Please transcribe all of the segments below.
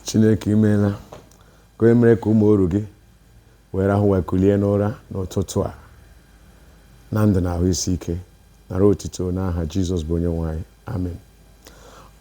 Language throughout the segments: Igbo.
chineke imeela ka onye mere ka ụmụ oru gị wee rahụ wee kulie n'ụra n'ụtụtụ a na ndụ na ahụ isi ike nara otito n'aha jizọs bụ onye nwe anyị amen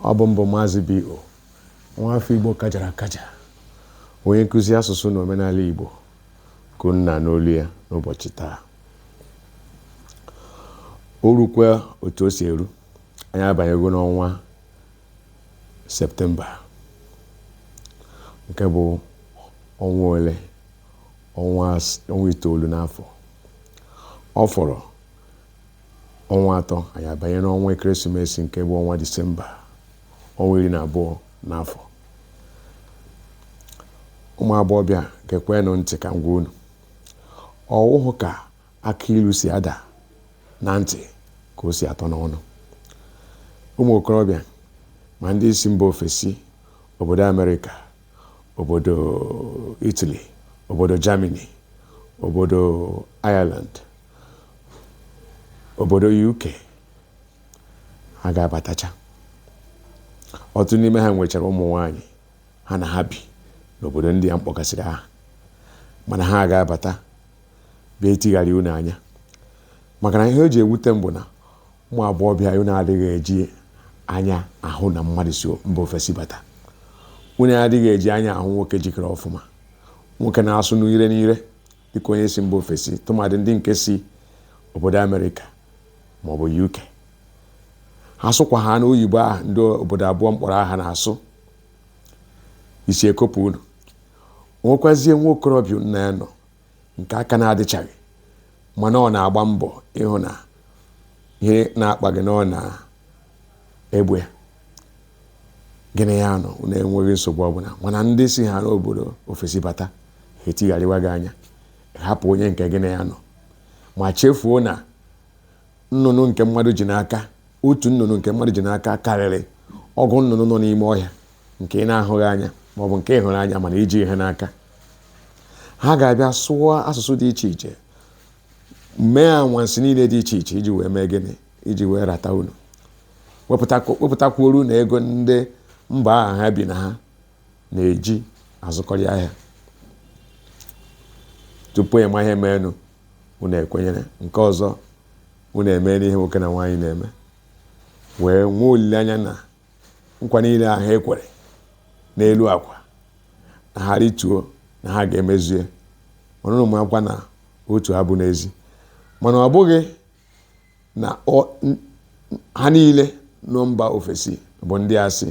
ọ bụ m bụ maazị bo nwa afọ igbo kajara akaja onye nkụzi asụsụ na omenala igbo ka unu na-anụ olu ya n'ụbọchị taa o rukwa otu o si eru anyị abanyego n'ọnwa septemba nke bụ ọnwa ole ọnwa itoolu n'afọ ọ fọrọ ọnwa atọ anyị abanye n'ọnwa ekeresimesi nke bụ ọnwa disemba ọnwa iri na abụọ n'afọ ụmụ agbọghọbịa gekwanụ ntị ka m gwa unu ọ wụhụ ka akị ilu si ada na ntị ka o si atọ n'ọnụ ụmụ okorobịa ma ndị si mba ofesi obodo amerịka obodo itali obodo germany obodo ireland obodo uk ha ga-abatacha ọtụtụ n'ime ha nwechara ụmụ nwanyị ha na ha bi n'obodo ndị a m kpọgasịrị aha mana ha ga-abata bịa itigharị unu anya maka na ihe o ji ewute m bụ na ụmụ agbọghọbịa unu adịghị eji anya ahụ na mmadụ si mba ofesi bata unu adịghị eji anya ahụ nwoke jikere ọfụma nwoke na-asụ n'ire n'ire dịka onye si mba ofesi tụmadị ndị nke si obodo amerịka maọbụ uk ha sụkwa ha n'oyibo ahụ ndị obodo abụọ m kpọrọ aha na-asụ isi ekopụ unu nwekwazie nwa okorobịa unu na ya nọ nke aka na-adịchaghị mana ọ na-agba mbọ ịhụ na ihe na-akpa gị na ọ na-egbo ya gị na ya nọ unu enweghị nsogbu ọbụla mana ndị si ha n'obodo ofesi bata ha etigharịwa gị anya hapụ onye nke gị na ya nọ ma chefuo na nnụnụ nke mmadụ ji n'aka otu nnụnụ nke mmadụ ji n'aka karịrị ọgụ nnụnụ nọ n'ime ọhịa nke ị na-ahụghị anya ma ọ bụ nke ị hụrụ anya mana i jighị n'aka ha ga-abịa sụọ asụsụ dị iche iche mee anwansi niile dị iche iche iji wee mee gịnị iji wee rata unu wepụtakwuoro unu ego ndị mba ahụ ha bi na ha na-eji azụkọrị ahịa tupu ịma ihe meenụ unu ekwenyere nke ọzọ unu emeela ihe nwoke na nwaanyị na-eme wee nwee olileanya na nkwa niile ahụ e kwere n'elu akwa na ha rịtuo na ha ga-emezue mana unu marakwa na otu a bụ n'ezi mana ọ bụghị na ha niile nọ mba ofesi bụ ndị asị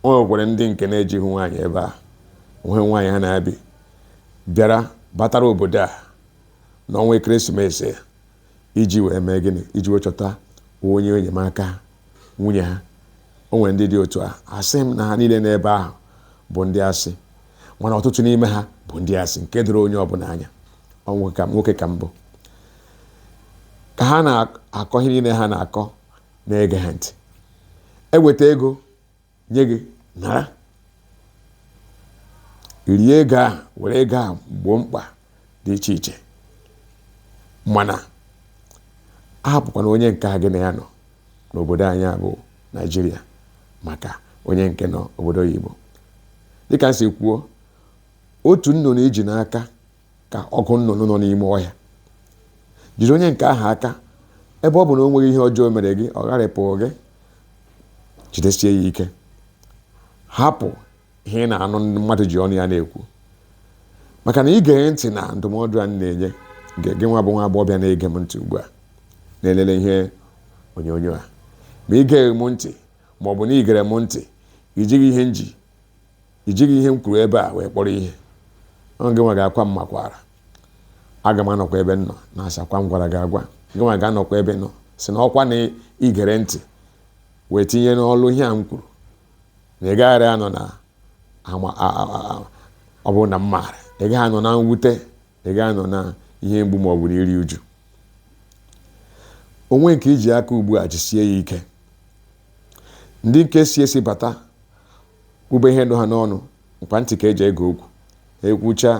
o nwekwara ndị nke na-ejighị nwaanyị ebe ahụ nwe nwaanyị ha na ya bi bịara batara obodo a n'ọnwa ekeresimesi iji wee mee gịnị iji wee chọta onye enyemaka nwunye ha o nwere ndị dị otu a asịghị m na ha niile n'ebe ahụ bụ ndị asị mana ọtụtụ n'ime ha bụ ndị asị nke doro onye ọbụla anya nwoke ka m bụ ka ha na-akọ ihe niile ha na-akọ na-ege ha ntị eweta ego nye gị nara rie ego ahụ were ego ahụ gboo mkpa dị iche iche mana ahapụkwana onye nke a gị na ya nọ n'obodo anyị a bụ naijiria maka onye nke nọ obodo oyibo dịka m si kwuo otu nnụnụ i ji n'aka ka ọgụ nnụnụ nọ n'ime ọhịa jiri onye nke ahụ aka ebe ọ bụ na o nweghị ihe ọjọọ mere gị ọ gharịpụghị gị jidesie ya ike hapụ ihe ị na-anụ mmadụ ji ọnụ ya na-ekwu maka na i gee ntị na ndụmọdụ a m na-enye gị nwa bụ nwa agbọghọbịa na-ege m ntị ugbu a na-elele ihe onyonyo a ma ị geghị m ntị ma ọ bụ na i gere m ntị i jighị ihe m ji i jighị ihe m kwuru ebe a wee kpọrọ ihe ọ gị nwa ga-akwa m makwaara aga m anọkwa ebe m nọ na-asị ọkwa m gwara gị agwa gị nwa ga-anọkwa ebe ị nọ sị na ọkwa na i gere ntị wee tinye n'ọlụ ihe a m kwuru na ị gaghara anọ na ọ bụ na m maara ị gaghị anọ na mwute ị gaghị anọ na ihe mgbu ma ọ bụ na iri uju onye nke i ji aka ugbu a jisie ya ike ndị nke si ezi bata kwube ihe nọ ha n'ọnụ mkpa ntị ka e ji ege okwu ha ekwucha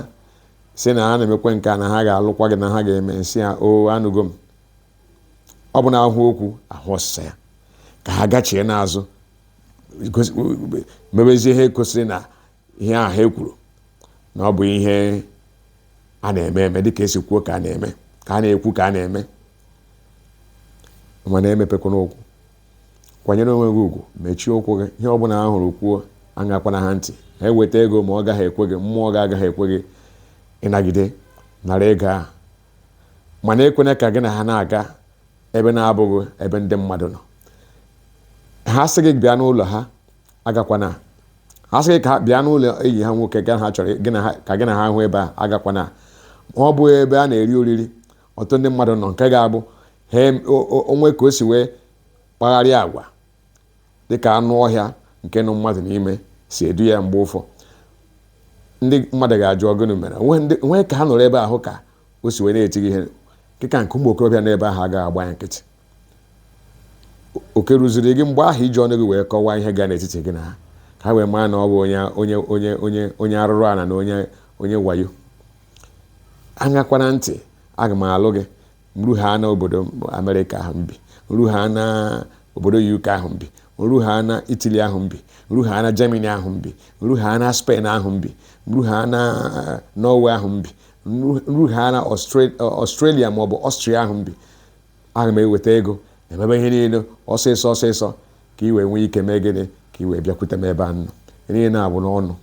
sị na ha na-emekwe nke a na ha ga-alụkwa gị na ha ga-eme sị ha o anụgo m ọ bụ na ahụ okwu ahụ ọsịsa ya ka ha gachie n'azụ gosi- mebezie ihe kwesịrị na ihe a ha kwuru na ọ bụ ihe a na-eme eme dịka e si kwuo ka a na-eme ka a na-ekwu ka a na-eme mana emepekwana ụkwụ kwanyere onwe gị ugwu mechie ụkwụ gị ihe ọbụla ha hụrụ kwuo aṅakwana ha ntị ha eweta ego ma ọ gaghị ekwe gị mmụọ gị agaghị ekwe gị ịnagide nara ego ahụ mana ekwena ka gị na ha na-aga ebe na-abụghị ebe ndị mmadụ nọ ha sị gị bịa n'ụlọ ha agakwana ha sị gị ka bịa n'ụlọ enyi ha nwoke na ha chọrọ ka gị na ha hụ ebe a agakwana ma ọ bụghị ebe a na-eri oriri ọtụtụ ndị mmadụ nọ nke ga-abụ o nwee ka o si wee kpagharịa agwa dịka anụ ọhịa nke nọ mmadụ n'ime si edu ya mgbe ụfọdụ ndị mmadụ ga-ajụ ọ gịnị mere o nwee ka ha nọrọ ebe ahụ ka o si wee na-eti gị ihe dịka nke ụmụ okorobịa n'ebe ahụ agaghị agba ya nkịtị oke ruziri gị mgbe ahụ iji ọnụ gị wee kọwaa ihe gaa n'etiti gị na ha ka ha wee maa na ọ bụ onye arụrụ ala na onye wayo aṅakwana ntị aga m alụ gị m ruha na obodo amerịka ahụ m bi m ruha na obodo uk ahụ m bi m ruha na italy ahụ m bi m ruha na germany ahụ m bi m ruha na spain ahụ m bi m ruha na norway ahụ m bi m ruha na australia maọbụ austria ahụ m bi aga m eweta ego e mebe ihe niile ọsịsọ ọsịsọ ka i wee nwee ike mee gịnị ka i wee bịakwute m ebe m nọ ihe na-abụ n'ọnụ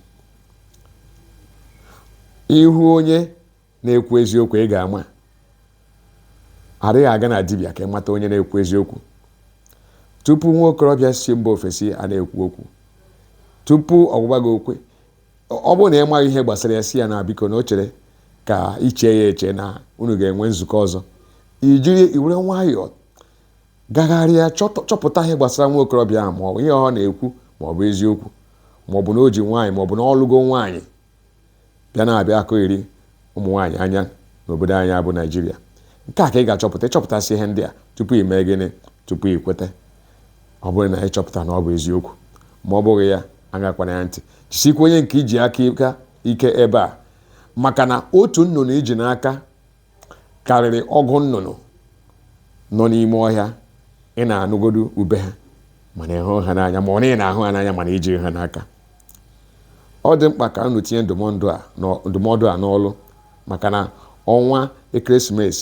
ị hụ onye na-ekwu eziokwu ị ga-ama a dịghị aga na dibịa ka ị mata onye na-ekwu eziokwu tupu nwa okorobịa si mba ofesi a na-ekwu okwu tupu ọ gwaba gị okwu ọ bụrụ na ị maghị ihe gbasara ya sị ya na biko na o chere ka i chee ya eche na unu ga-enwe nzukọ ọzọ i jiri i were nwayọọ gagharịa chọpụta ihe gbasara nwa okorobịa ahụ maọbụ ihe ọ na-ekwu maọbụ eziokwu maọbụ na o ji nwaanyị maọbụ na ọ lụgo nwaanyị bịa na-abịa ikiri ụmụ nwaanyị anya n'obodo anyị bụ naịjirịa nke a ka ị ga-achọpụta ị chọpụtasịa ihe ndị a tupu ị mee gịnị tupu ị kweta ọ bụrụ na ị chọpụta na ọ bụ eziokwu ma ọ bụghị ya aṅakwana ya ntị jisikwa onye nke i ji aka aka ike ebe a maka na otu nnụnụ i ji n'aka karịrị ọgụ nnụnụ nọ n'ime ọhịa ị na-anụgodu ube ha mana ị hụghị ha n'anya ma ọ bụ na ị na-ahụ ha n'anya mana i jighị ha n'aka ọ dị mkpa ka unu tinye ndụmọdụ a n'ọlụ maka na ọnwa christmas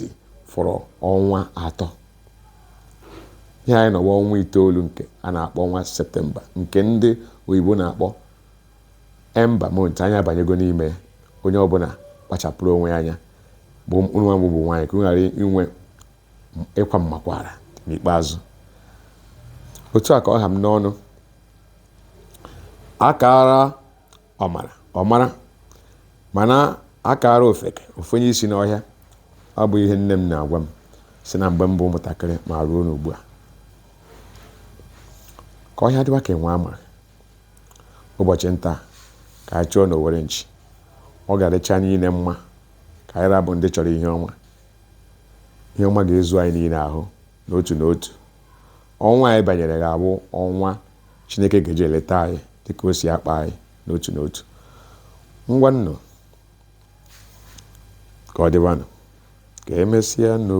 fọrọ ọnwa atọ ihe anyị nọ ugbu a ọnwa itoolu nke a na-akpọ ọnwa septemba nke ndị oyibo na-akpọ ember month anyị abanyego n'ime ya onye ọbụla kpachapụrụ onwe ya anya bụrụ nwa bụ nwaanyị ka unu ghara inwe ịkwa mmakwaara n'ikpeazụ otu a ka ọ ha m n'ọnụ a kaara ọmara ọ mara mana a kaara ofeke o fenye isi n'ọhịa ọ bụ ihe nne m na-agwa m si na mgbe m bụ ụmụntakịrị ma ruo n'ugbu a ka ọhịa dịwa ka enwe ama ụbọchị nta ka anyị chụọ n'owere nchi ọ ga-adịcha anyị niile mma ka anyị ra bụ ndị chọrọ ihe ọma ihe ọma ga-ezu anyị niile ahụ n'otu n'otu Ọnwa anyị banyere ga-abụ ọnwa Chineke ga-eji eleta anyị dị ka o si akpa anyị n'otu n'otu. Ngwanụ ka ọ dịbanụ, ka emesịa nụ.